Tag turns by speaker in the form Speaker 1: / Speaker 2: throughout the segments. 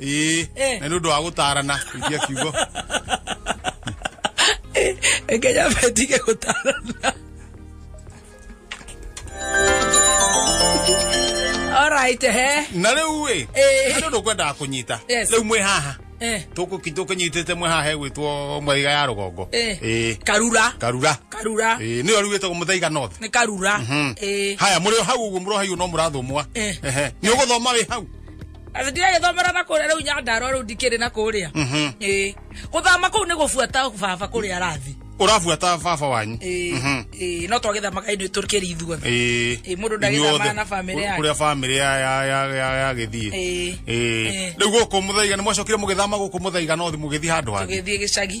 Speaker 1: ĩĩ Eh. na nĩ ũndũ wa gũtaarana kuitia kiugo Kenya metige gũtarana alright he na rĩu ĩ Eh. nĩ ũndũ kwendaga kũnyita Yes. rĩu mwĩ haha Eh, tũkũnyitĩte mwĩ haha hegwĩtwo mwaiga ya rũgongo eh. Ĩĩ. karura karura karura Ĩĩ, nĩyo rĩu ĩtagwo mũthaiga north nĩ karura Eh, haya mũrĩ o hau ũguo mũrohaio no mũrathũmwa Eh. Ehe. nĩ ũgũthoma wĩ hau Athi ndiragĩthomera na kũrĩa rĩu nyandarwa rĩu ndikĩrĩ na kũrĩa Mhm. ĩĩ gũthama kũu nĩ gũbuata baba kũrĩa arathi Ũrabuata baba wanyu. ĩĩ Mhm. ĩĩ no twagĩthamaga inĩ tũkĩrĩ ithuothe Ĩĩ. Ĩĩ, mũndũ ndagĩthamaga Inyuothe. na famĩlĩ yake. Kũrĩa famĩlĩ ya ya ya ya ya gĩthiĩ. Ĩĩ. Ĩĩ. Ĩĩ. Rĩu gũkũ mũthaiga nĩ mwacokire mũgĩthama gũkũ mũthaiga no mũgĩthiĩ handũ hangĩ. tũgĩthiĩ gĩcagi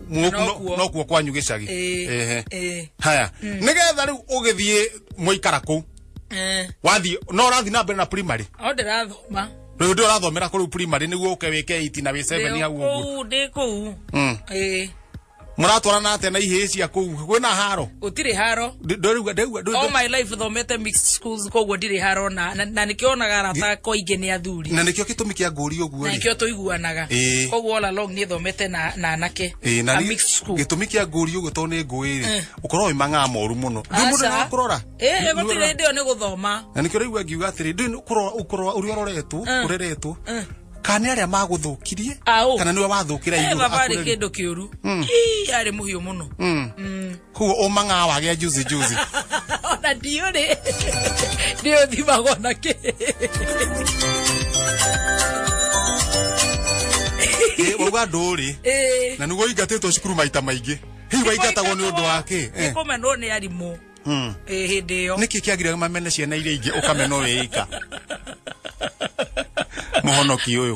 Speaker 1: Mwogu no- Nokuo. nokuo kwanyu gĩcagi Ĩĩ, Ehe. ĩĩ. haya nĩgetha rĩu ũgĩthiĩ mwaikara kũu Eh, wathiĩ no ũrathiĩ na mbere na primary o ndĩrathoma rĩu ndĩ ũrathomera kũrĩu primary nĩguo ũke wĩke iti na wĩ seven hau ũguo kũu ndĩ kũu Mm. Ĩĩ, mũratwarana atĩa na ihĩĩ cia kũu kwĩna haro gũtirĩ haro Ndĩ- ndĩrauga- ndĩrauga- ndĩ- all my life thomete mixed schools koguo ndirĩ harona na- na nĩkĩo onaga arata kwa ingĩ nĩ athuri na nĩkĩo gĩtũmi kĩa ngũri ũguo na rĩ nĩkĩo tũiguanaga Ĩĩ. koguo all along niĩ thomete na na anake Ĩĩ, na a nĩ- mixed school gĩtũmi kĩa ngũri ũguo tondũ nĩ ngũĩ rĩ ũkorwo wĩ mang'aa moru mũno rĩu mũndũ Aca. nĩakũrora Ĩĩ, gũtirĩ hĩndĩ ĩyo nĩ gũthoma na nĩkĩo rĩu angiuga atĩrĩ ndũĩ ũkũrora ũkũrora ũrĩa ũroretwo ũreretwo kana nĩ arĩa magũthũkirie Aũ. kana nĩwe wathũkĩra Eh, igũrũ baba arĩ akũreri. kĩndũ kĩũru Ii, arĩ mũhiũ mũno Mm. Mm. kuo umang'aa wagĩa juzi juzi ona ndiå rä nä å thimagwo na kä Eh, wauga ndũrĩ na nĩguo ingatĩtwo cukuru maita maingĩ hihi waingatagwo nĩ ũndũ wa kĩ nä Eh, kå menwo nä arimå mm. hä ndä ä yo nĩkĩ kĩagire mamene ciana iria ingĩ ũkamena ũrĩ ika mũhonoki ũyũ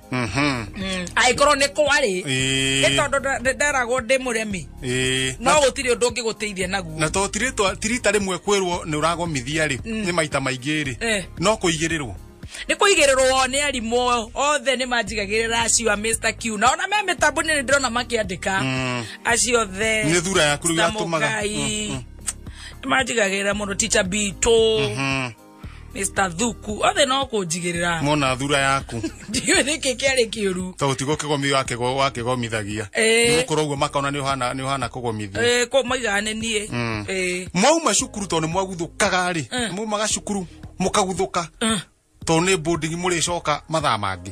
Speaker 1: Mhm. Mm, angĩkorwo nĩ kwarĩ Ĩĩ. nĩ tondũ nda- nda- ndaragwo ndĩ mũremi Ĩĩ. no gũtirĩ ũndũ ũngĩ gũteithia naguo na to tirĩtwa tirita rĩmwe kwĩrwo nĩ ũragomithia rĩ nĩ maita maingĩ rĩ Eh. no kũigĩrĩrwo nä kå igä rä rwo nä arimå othe nä manjigagä rä ra acio a Mr. Q na ona me mä tambå nä ndä rona makä andä ka Mm. acio othe Nĩ thura yaku rĩu yatũmaga. Stamogai. Mm, mm. nä manjigagä rä ra må no ticha bitå Mhm. Mr. Thuku, othe no kũnjigĩrĩra. Mona thura yaku. Ndiũĩ nĩkĩ kĩarĩ kĩũru. Tondũ ti gũkĩgomio wakĩgo wakĩgomithagia. Eh. Nĩ gũkorwo ũguo makona nĩ ũhana nĩ ũhana kũgomithia. Eh, kũ maiga nĩ niĩ. Mm. Eh. Mwauma cukuru tondũ nĩ mwaguthũkaga rĩ. Eh. Mwaumaga cukuru mũkaguthũka. Eh. Tondũ nĩ boarding mũrĩcoka mathaa mangĩ.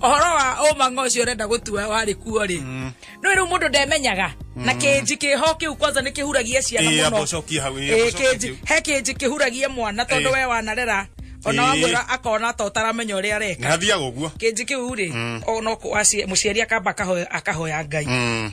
Speaker 1: ũhoro wa ũmang'a ũcio ũrenda gũtua warĩ kuo rĩ no rĩu mũndũ ndemenyaga na kĩnji kĩho kĩu kwanza nĩ kĩhuragia ciana Ĩĩ, mũno amba ũcokie hau, ĩĩ, amba Ĩĩ, ũcokie kĩnji- hau. he kĩnji kĩhuragia mwana tondũ Ĩĩ. we wanarera ona Ĩĩ. wamwĩra akona ta ũtaramenya ũrĩa areka nä athiaga å guo kĩnji kĩu rĩ ona mũciari akamba akahoya- akahoya ngai Mm.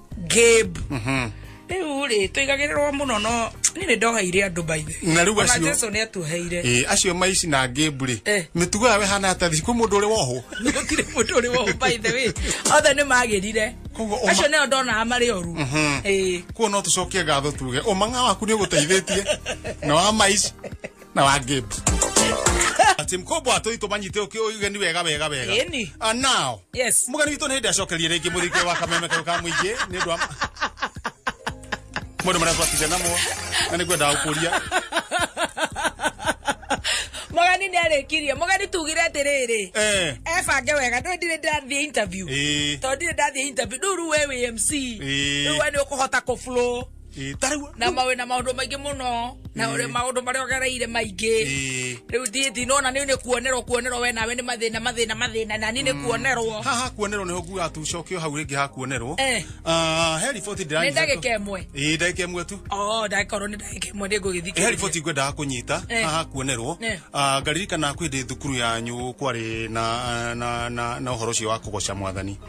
Speaker 1: Gabe rĩu rĩ tũigagĩrĩrwo mũno no niĩ nĩ ndoheire andũ baithe Na rĩu acio- jesu nĩ atuheire Ĩ, acio maici na ngĩmbu rĩ Eh. mĩtugo yao ĩhana atĩa thici kwĩ mũndũ ũrĩ wohwo gũtirĩ mũndũ ũrĩ wohũ baithe wĩ othe nĩ magĩrire Koguo ũma- acio nĩo ndonaga marĩ oru Ĩĩ. kuo no tũcokie ngatho tuge ũmanga waku nĩ ũgũteithĩtie na wa maici na wa Gabe ati mkubwa tu itu manyite uki ugeni wega wega wega Ĩni. and now Yes. mugeni witu ni ndi acokerie ringi muthike wa kameme kau ka muingi ni ndu mundu maria twatire namo na ni ngwenda gukuria Mũgeni nĩ arĩkirie. Mũgeni tugire atĩrĩrĩ. eh Ebange wega ndũ ndirĩ ndathiĩ interview. eh Tondũ ndirĩ ndathiĩ interview. Rĩu rĩu we wĩ MC. Ĩĩ. Rĩu we nĩ ũkũhota kũ flow. Ĩĩ, ta rĩu na mawe na maundu maingi muno na uri maundu maria ogereire maingi Ĩĩ. riu ndie ndinona ni ni kuonerwo kuonerwo we nawe ni mathina mathina mathina na ni ni kuonerwo haha kuonerwo nä nguga tucokio hau rä ngä ha kuonerwo Eh. Ah, he riboti ndä ni ndagika imwe ä ndagä mwe tu oh ndagikorwo ni ndagika imwe ni he ngugithikiriria riboti ngwendaga kå nyita Eh. haha kuonerwo Eh. Ah, ngaririkana kwä ndä thukuru yanyu kwarä na, na, na, na å horo å cio wa kå goca mwathani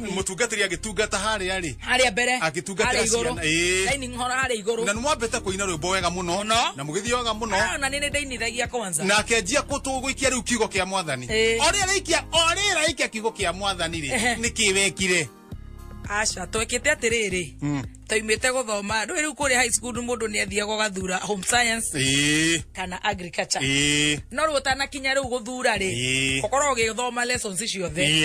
Speaker 1: mutungatiri agitungata haria ri haria mbere agitungatira ciana eh dining hall haria iguru na nwambete kuina rwimbo wega muno na mugithio wega muno ah, na nini ndinithagia kwanza na kenjia kutuguikia riu kiugo kia mwathani eh. oria rikia oria rikia kiugo kia mwathani ri nikiwekire aca twekite atiriri hmm. taimite guthoma ndå riu kuria high school mundu ni athiaga gathura home science eh. kana agriculture eh. no riu utanakinya riu guthura ri ukorwo eh. ugithoma lessons ciothe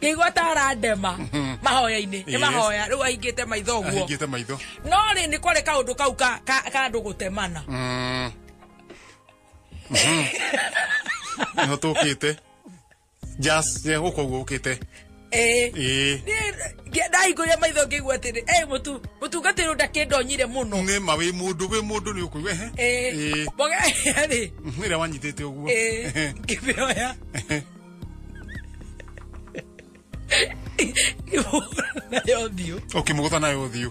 Speaker 1: ngĩigua ta arandema mahoya-inĩ nĩ mahoya rĩu ahingĩte maitho ũguo ahingĩte maitho no rĩ nĩ kwarĩ kaũndũ kau ka ka- ka andũ gũtemana Mm. Mhm. nĩho tũkĩte jas gũkũ guo ũkĩte Eh. Eh. ndahingũrire maitho ngĩigua atĩrĩ eh, mũtu mũtungatĩri ũyũ ndakĩndonyire mũno nĩ ma wĩ mũndũ wĩ mũndũ nĩ ũkũigua ehe Eh, Eh. mboga rĩ Mhm, ĩrĩa wanyitĩte ũguo eh, ngĩmĩoya nayo thiũ ũkĩmũgũtha nayo ũthiũ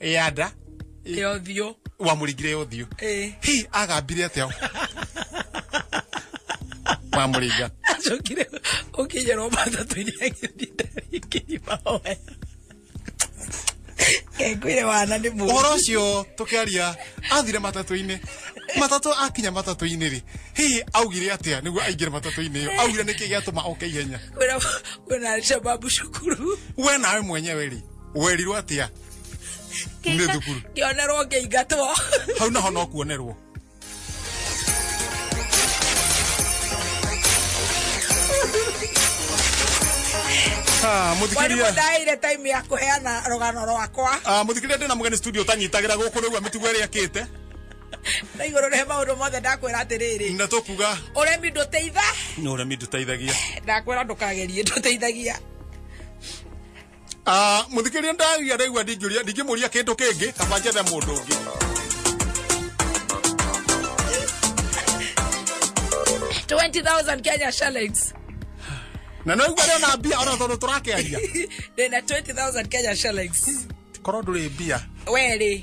Speaker 1: ya nda ya ũthiũ wamũringire ya ũthiũ Eh. hi agambire atĩa wamũringa acokire ũkĩnyerwo matatũ-inĩ agĩthinde rĩngĩ mahoya kengwire wana nĩ mũndũ ũhoro ũcio tũkĩaria athire matatũ-inĩ matatũ akinya matatũ-inĩ rĩ hihi augire atĩa nĩguo aingĩre matatũ-inĩ ĩyo augire nĩkĩ gĩatũma oke ihenya kwĩna kwĩna shababu cukuru we nawe mwenyewe rĩ werirwo atia nä thukuru ngionerwo ngĩingatwo hau naho no kuonerwo Ah, mwarimũ mũthikĩria ndaheire time ya kũheana rũgano rwakwa Ah, mũthikĩria ndĩna mũgeni studio tanyitagĩra gũkũ rĩu amĩtugo ĩrĩa akĩte na igũrũ rĩhe maũndũ mothe ndakwĩra atĩrĩrĩ na tũkuga ũremi ndũteitha nĩ ũremi ndũteithagia ndakwĩra ndũkagerie ndũteithagia Ah, mũthikĩria ndaria ndaigua ndingĩũria ndingĩmũria kĩndũ kĩngĩ kaba njethe mũndũ ũngĩ twenty thousand kenya shillings na no igua na mbia ona tondũ tũrakĩaria ndĩna twenty thousand kenya shillings korwo ndũrĩ mbia werĩ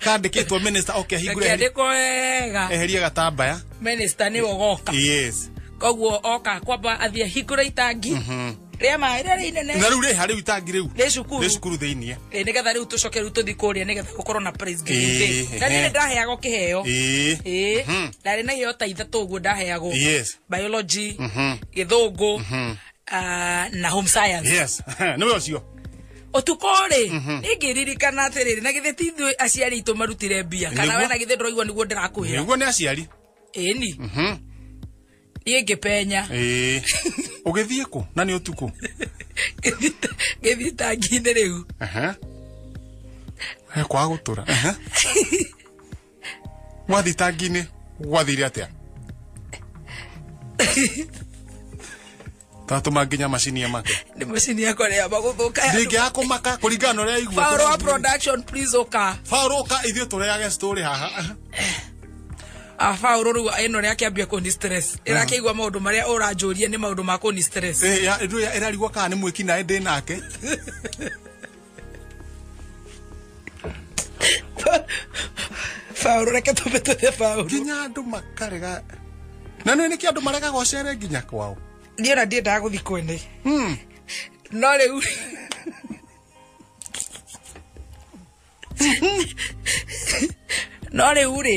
Speaker 1: kandĩkĩtwo minister oke ahingũre eheri- ndĩkandĩkwo wega eherie gatambaya minista nĩ ũgoka yes koguo oka kwamba athiĩ hingũra itangi rĩa maĩ rĩrĩa rĩ inene na rĩu rĩ harĩ itangi rĩu Rĩ cukuru. rĩ cukuru thĩinĩ Ĩ, nĩgetha rĩu tũcoke rĩu tũthi kũrĩa nĩgetha gũkorwo na praise Ĩ, giving day na ehe. nĩrĩ ndaheagwo kĩheo ĩĩ ĩĩ Mhm. ndarĩ na iheo ta ithatũ ũguo ndaheagwo Yes. biology Mhm. gĩthũngũ ah, na home science yes niwe ucio utuko ri Mhm. ningiririkana atiriri na githĩ ti ithuĩ aciari aitũ marutire mbia kana Nĩguo. we na githĩ ndũraigua nĩguo ndĩrakũhĩra niguo nä aciari ĩni Mhm. niĩ ngĩpenya Ĩĩ. ũgĩthiĩ kũ na nĩ ũtukũ Ngĩthita- ngĩthitangi-inĩ rĩu Aha. Eh, kwaga gũtũra Aha. wathitangi-inĩ gwathire atia tatũma nginya macini make nä macini yakwa rä amba gå thå ka ndingĩaga kũmaka kũringana na ũrĩa aigua Power wa production please ũka Faũrũ ka ithuĩ tũrĩage story haha Ah, Paul rĩu ĩno rĩa kĩambia kũni stress ĩrakĩigua maũndũ marĩa ũranjũria nĩ maũndũ ma kũni stress Eh, ya- ndio ya- ĩrarigwo kana nĩ mwĩki naĩ ndĩ nake Faulu reke tumbe tuthe faulu. Nginya andu makarega. Na nä nä kä andå maregaga å cere nginya kwao Niĩ ona ndiendaga gũthiĩ kwene. Hmm. No rĩu no rĩu rĩ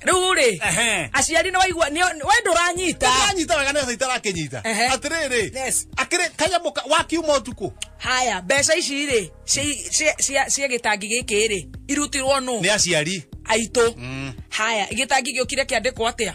Speaker 1: riu ri Ehe. aciari ni waigua ni we nduranyita anyita wega nä itarakinyita Ehe. atä rä rä Yes. akä rä kanyamå ka- wakiuma å tukå haya mbeca ici rĩ ci- ci- cia cia gĩtangi gĩkĩ rĩ irutirwo nũ nä aciari aitũ haya gĩtangi gĩũkire kĩandĩkwo atĩa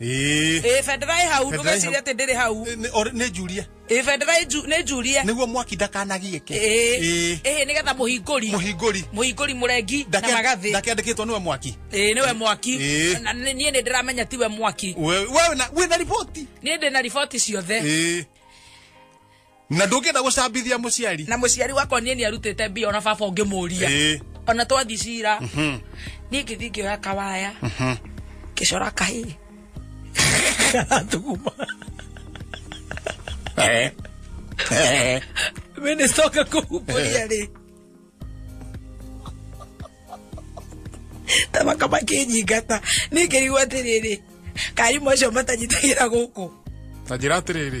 Speaker 1: ĩĩ ĩĩ bendera ĩ hau Bendera ĩ ndũgeciria hau. atĩ ndĩrĩ hau Nĩ- orĩ- nĩ njurie ĩĩ bendera ĩ nju- nĩ njurie nĩguo mwaki ndakanagiĩke ĩĩ ĩĩ nĩgetha mũhingũri mũhingũri mũhingũri mũrengi na ndake- magathĩ ndakeandĩkĩtwo nĩwe mwaki ĩĩ nĩwe mwaki Ĩĩ. na nĩ- niĩ nĩ ndĩramenya tiwe mwaki We- we wĩna- wĩna riboti niĩ ndĩ na riboti ciothe ĩĩ na ndũngĩenda gũcambithia mũciari na mũciari wakwa niĩ nĩ arutĩte mbia ona baba ũngĩmũria Ĩĩ. ona twathi cira niĩ ngĩthi ngĩoya kawaya ngĩcora kahĩ karatuguma Eh. Eh. minista oka kũhumbũria rĩ tamaka makĩnyingata nĩ ngĩrigwo atĩrĩrĩ karimũ acio matanyitagĩra gũkũ na njĩra atĩrĩrĩ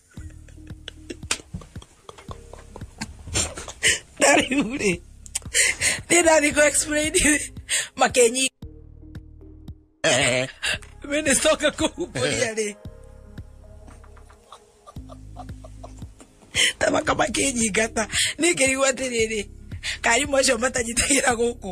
Speaker 1: rĩu rĩ nĩ ndathiĩ kũ explain makenyi minister oka kũhumbũria rĩ tamaka makĩnyingata nĩ ngĩrigwo atĩrĩrĩ karimũ acio matanyitagĩra gũkũ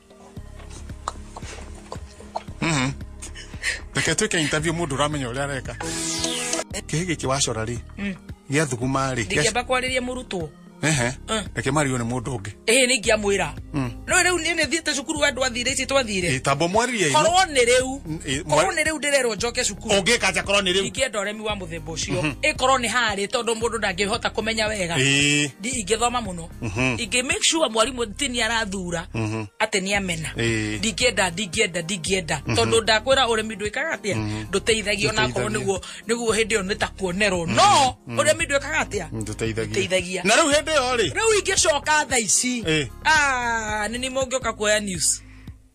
Speaker 1: reke twä ke interview må ndå ramenya å rä a areka kä gä kä wacora rä gä athuguma rä ndingĩamba kwarĩria mũrutwo Ehe. Mm. reke mariå nä må ndå å ngä ĩhĩ nĩ ingĩamwĩra no rĩu niĩ nĩ thiĩte cukuru wa andũ athire ici twathire tambo mwaririe ino korwo nĩ rĩu Mm, ĩ, mwa- korwo nä rä u ndä rerwo njoke cukuru å ngä kanja korwo nä rä u ingĩenda ũremi wa mũthemba ũcio ĩkorwo nĩ harĩ tondũ mũndũ ndangĩhota kũmenya wega Ĩĩ. Ndi- ingĩthoma mũno Mhm. ingĩ make sure mwarimũ ti nĩ arathura Mhm. atĩ nĩ amena Ĩĩ. ndingĩenda ndingĩenda ndingĩenda tondũ ndakwĩra ũrĩmi ndwĩkaga atĩa ndũteithagia ona akorwo Ndũteithagia. nĩguo nĩguo hĩndĩ ĩyo nĩ ta kuonerwo no ũrĩmi ndwĩkaga atĩa Ndũteithagia. Ndũteithagia. na rĩu hĩndĩ ĩyo rĩ rĩu ingĩcoka tha ici Ĩĩ. Ah, nĩ nĩ mũngĩũka kuoya news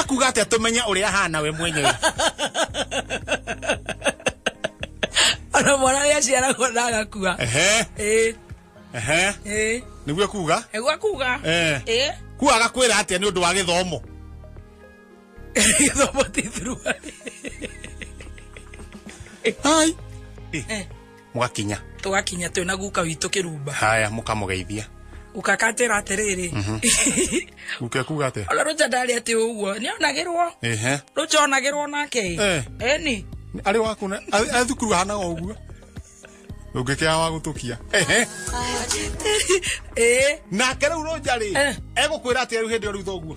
Speaker 1: ekuga atä tũmenye ũrĩa ahana we mwenyewe ona mwana ũrĩa aciaragwo na agakua Ehe, Ĩĩ, ehe. ĩĩ. nĩguo ekuga Nĩguo akuga Eh. Ĩĩ. kuo agakwĩra atĩa nĩ ũndũ wa gĩthomo gĩthomo ti thuruarĩ ai mũgakinya tũgakinya twĩ na guka witũ kĩrumba haya mũkamũgeithia ukakatira atiriri guka kuga atia ona ruja ndari ati uguo ni onagirwo ehe ruja onagirwo nake Eh. eni arĩ waku na arĩ arĩ thukuru hanaga ũguo ndũngĩkĩra wa gũtũkia ehe eh nake rĩu rũnja rĩ Eh. egũkwĩra atĩ rĩu hĩndĩ ĩyo rĩu thoguo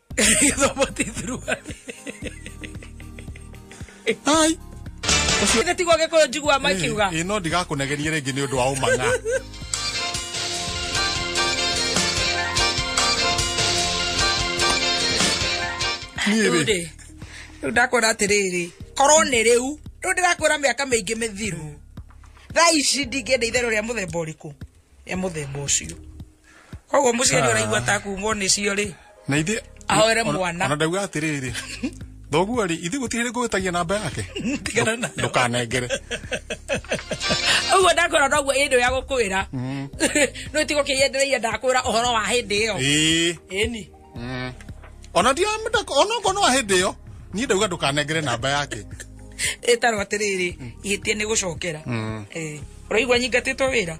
Speaker 1: Gĩthomoti thuruarĩ. Ai. Githĩ tiguo Gĩkũyũ njiguaga makiuga. Ĩ no ndigakũnegerie rĩngĩ nĩ ũndũ wa ũmang'a. Niĩ Rĩu rĩ, rĩ, rĩu ndakwĩra atĩrĩrĩ korwo nĩ rĩu rĩu ndĩrakwĩra mĩaka mĩingĩ mĩthiru thaa ici ndingĩenda itherũ rĩa mũthemba ũrĩkũ rĩa mũthemba ũcio koguo muciari ah. uraigua ta kumwo ni cio ri na ithe ahoere mwana ona ndauga atiriri thoguo ri ithe gutire ri ngugitagia namba yake tigana na ndukanengere uguo ndakwira noguo indi ya gukwira mm. no tigo kiyendereire ndakwira uhoro wa hindi iyo eni mm. ona ndio amenda ona ko no hindi iyo ni ndauga ndukanengere namba yake itarwa atiriri mm. ihitie ni gucokera eh uraigua nyingatitwo wira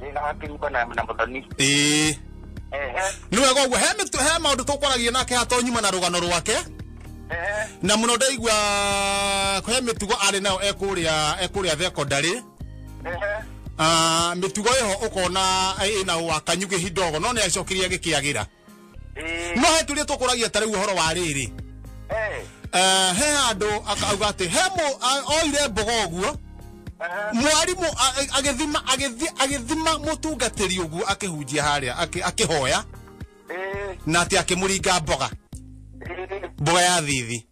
Speaker 1: Nĩ na hakĩrumba na na mũthoni. ĩĩ Ehe. nĩ wega ũguo he mĩtu- he maũndũ tũkwaragia nake hatonyuma na rũgano rwake Ehe. na mũno ndaigua he mĩtugo arĩ nayo ekũrĩa ekũrĩa thekondarĩ Ehe. Ah, mĩtugo ĩho ũkona ĩna wakanyugĩ hidogo no nĩ acokirie agĩkĩagĩra no he turia tukuragia ta riu horo wa riri Eh, Eh, he andu akauga ati he mu a- oire mbogo uguo aha. mwarimũ a- a- agĩthima agĩthi- agĩthima mũtungatĩri ũguo akĩhunjia harĩa akĩ- akĩhoya Eh, na atĩ akĩmũringa mboga eh, mboga ya thithi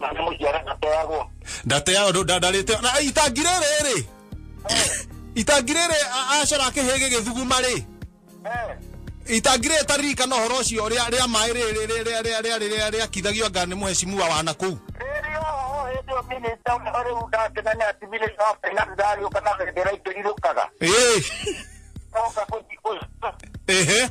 Speaker 1: Na nĩ mũciara ndateagwo. ndateaga ndũ- nda- ndarĩte na itangi rĩrĩ rĩ itangi rĩrĩ a- acora kĩhĩ gĩgĩthuguma rĩ Eh, itangi rĩrĩ taririkana ũhoro ũcio rĩa rĩa maĩ rĩrĩ rĩ- rĩ- rĩa- rĩa- rĩa- rĩa- rĩakithagio anga nĩ mũhecimua wa nakũu rĩrĩ oho hĩndĩ ĩyo minista ũrĩa rĩu ndakenania ati minista wa finance ndagĩũka na bendera ikĩrirũkaga. Ĩĩ, Oka kũthi- kũthi- ĩhĩ